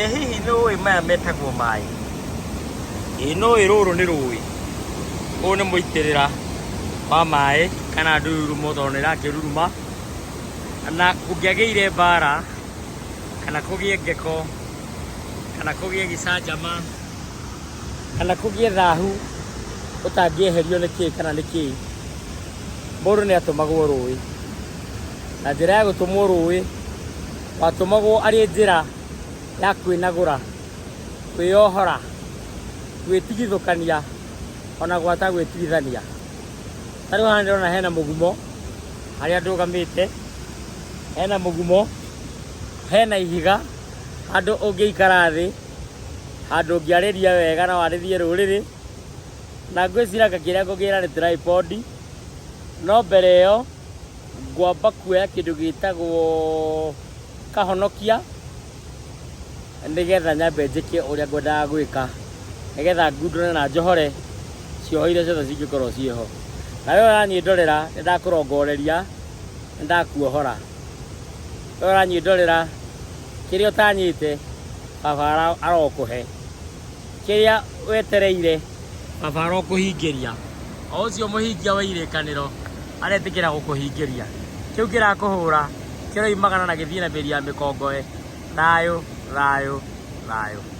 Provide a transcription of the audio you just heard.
Ĩ hihi nĩ ũĩ maya metagwo maĩ? Ĩ nĩ ũĩ rũrũ nĩ rũĩ? Ũyũ nĩ mũitĩrĩra wa maĩ kana ndururumo tondũ nĩ ĩrakĩruruma. Na kũngĩagĩire mbara kana kũgĩe ngeko kana kũgĩe gĩcanjama kana kũgĩe thahu ũtangĩeherio nĩ kĩĩ kana nĩ kĩĩ, mũndũ nĩ atũmagwo rũĩ. Na njĩra ya gũtũmwo rũĩ, watũmagwo arĩ njĩra ya kwĩnagũra kwĩyohora gwĩtigithũkania ona gwata gwĩtigithania ta rĩu haha ndĩrona hena mũgumo harĩa ndũgamĩte hena mũgumo hena ihiga handũ ũngĩikara thĩ handũ ũngĩarĩria wega na warĩrie rũrĩrĩ na ngwĩcira ngakĩrĩa ngũgĩra nĩ tripod no mbere ĩyo ngwamba kuoya kĩndũ gĩtagwo kahonokia nĩgetha nyambe njĩke ũrĩa ngwendaga gwĩka nĩgetha ngundũre na njohore cioho iria ciothe cingĩkorwo ciĩho na we ũranyĩ ndorera nĩ ndakũrongoreria nĩ ndakuohora we ũranyĩ ndorera kĩrĩa ũtanyĩte baba ara- arokũhe kĩrĩa wetereire. Baba arokũhingĩria. O ũcio mũhingia wa irĩkanĩro aretĩkĩra gũkũhingĩria. Kĩu kĩrakũhũra kĩroimagana na gĩthiĩ na mĩri ya mĩkongoe. Thayũ, thayũ, thayũ.